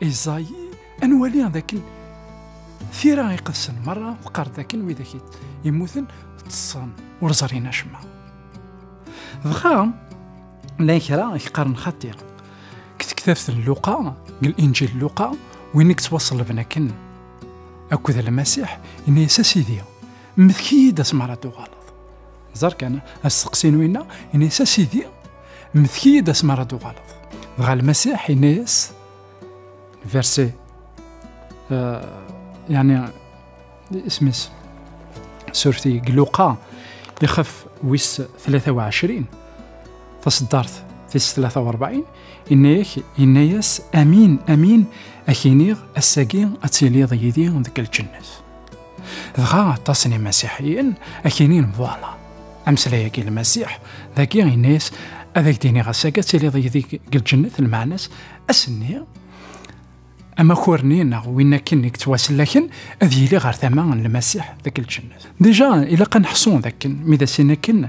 Iẓay, ad nwali dakken tira iqedsen merra teqqar dakken widak yemmuten ṭṭsen ur ẓrin acemma. Dɣa llan kra yeqqaren xaṭi deg tektabt n Luqa, deg Linǧil Luqa, win i yettwaṣellben akken akked Lmasiḥ, yenna-yas a Sidi, mmlek-iyi-d asmar ad tuɣaleḍ. Ẓer kan, asteqsi n winna, yenna-yas a Sidi, Mmetek-iyi-d asmi ara d-tuɣaleḍ. Dɣa Lmasiḥ yenna-yas, verse, uh, yani isem-is, surti Gluqa, ixef wis 23, taṣeddart tis 43, yenna-yak, yenna-yas, amin, amin, ak iniɣ, ass-agi ad tiliḍ yid-i deg lǧennet. dɣa aṭas n imasiḥiyen akinin bwaala ameslay-agi lmasiḥ dagi inis ad ak-d-iniɣ ass-agi ad tiliḍ yidi deg lǧennet lmeɛna-s ass-nni amakurnni neɣ win akken i yettwasellaken ad yili ɣer tama n lmasiḥ deg lǧennet dija ilaq ad neḥṣu dakken mi d asin akken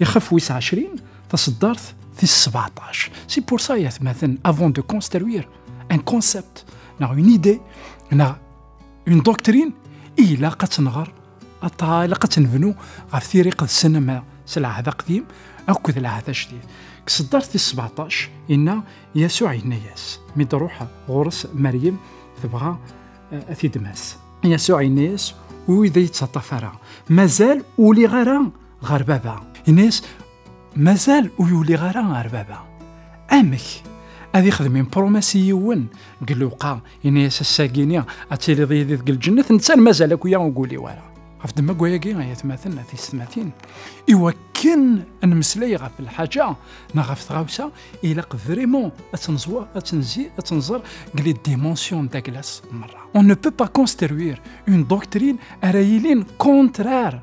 Ixef wis ɛecrin, taseddart tis sebɛṭac. Si pour ça, yatmaten, avant de construire un concept, neɣ une idée, neɣ une doctrine, ilaq ad tenɣer, ilaq ad tenbnu ɣef tiri qedsen ama s lɛahd aqdim akked lɛahd ajdid. Deg seddart tis sebɛṭac, inna Yasuɛ yenna-yas, mi d-ruḥ ɣur-s Maryem tebɣa eh, ad t-id-mas. Yasuɛ yenna-yas, ur yi-d yettaṭṭaf ara, mazal ur liɣ ara ɣer baba yenna-yas mazal ur yuliɣ ara ɣer baba amek ad ixdem impromès i yiwen deg lewqa yenna-yas assagini ad tiliḍ yidi deg lǧennet netta mazal akk ya ur guli-w ara ɣef ddemma gwayagi ay atmaten a tiysetmatin iwakken ad nemmeslay ɣef lḥaǧa neɣ ɣef tɣawsa ilaq vraiment ad tenẓwer ad tenzi ad tenẓer deg les dimensions de la glace merra on ne peut pas construire une doctrine ara yilin contraire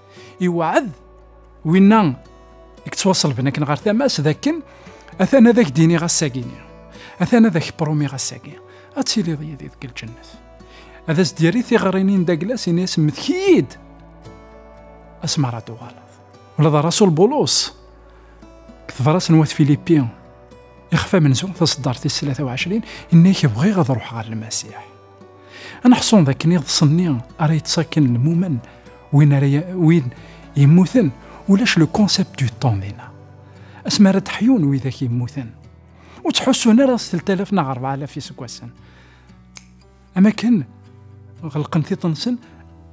Iweɛɛed winna i yettwaṣelben akken ɣer tama-s d akken atan ad ak-d-iniɣ ass-agi-ni, atan ad ak-promiɣ ass-agi, ad tiliḍ yid-i deg lǧennet. Ad as-d-yerri tiɣrinin daglas, ini-as mmetk-iyi-d asmi ara d-uɣaleḍ. Ula d Rasul Bulus, deg tebrat n wat Filipi, ixef amenzu taṣeddart tis tlata u ɛecrin, inna-k bɣiɣ ad ruḥeɣ ɣer Lmasiḥ. Ad neḥṣun dakken iḍes-nni ara yettṣakken lmumen win ara win yemmuten ulac le concept du temps dina. Asmi ara d-ḥyun widak yemmuten. Ur ttḥussun ara s 3000 neɣ 4000 iseggasen. Am akken ɣelqen tiṭ-nsen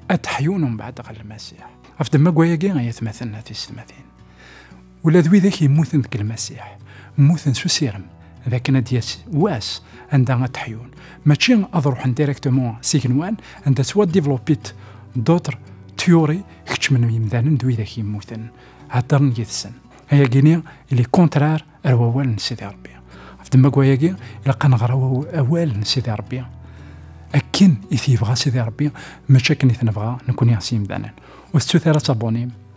ad d-ḥyun umbeɛd ɣer Lmasiḥ. Ɣef demma n wayagi ay atmaten a tisetmatin. Ula d widak yemmuten deg Lmasiḥ, mmuten s usirem d akken ad d-yas wass anda ad d-ḥyun, mačči ad ruḥen directement s igenwan anda ttwaddivlopit d'autres théories keččmen yimdanen d widak yemmuten, heddren yid-sen. Ayagi-ni il est contraire ar wawal n Sidi Rebbi. Ɣef ddemma-agi, ilaq ad nɣer awal n Sidi Rebbi akken i t-yebɣa Sidi Rebbi, mačči akken i t-nebɣa nekkni s yimdanen. Ur tettut ara asabunim.